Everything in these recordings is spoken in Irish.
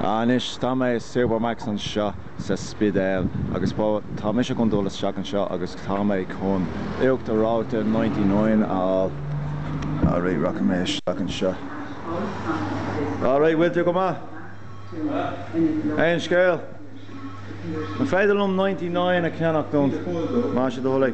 Anois, tá mé i Supermac's anseo sa Spidéal agus beidh, tá mise chun dul isteach anseo agus tá mé chun uachtar reoite ninety nine a fháil. All right, rachaidh mé isteach anseo. All right, bhfuil tú go maith? Aon scéal? An féidir liom ninety nine a cheannacht uait más é do thoil é.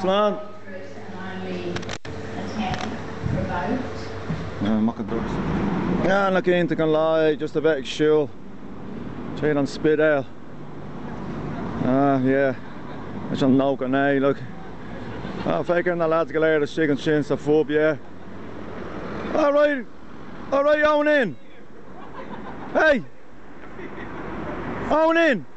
Slán! Now nach iontach an lá é just a bheith ag siúl tríd an Spidéal. Ah, yeah. Leis an 99, look. Ah, feic ar na lads go léir istigh ansin sa phub, yeah. All right! All right, own in! Hey! Own in!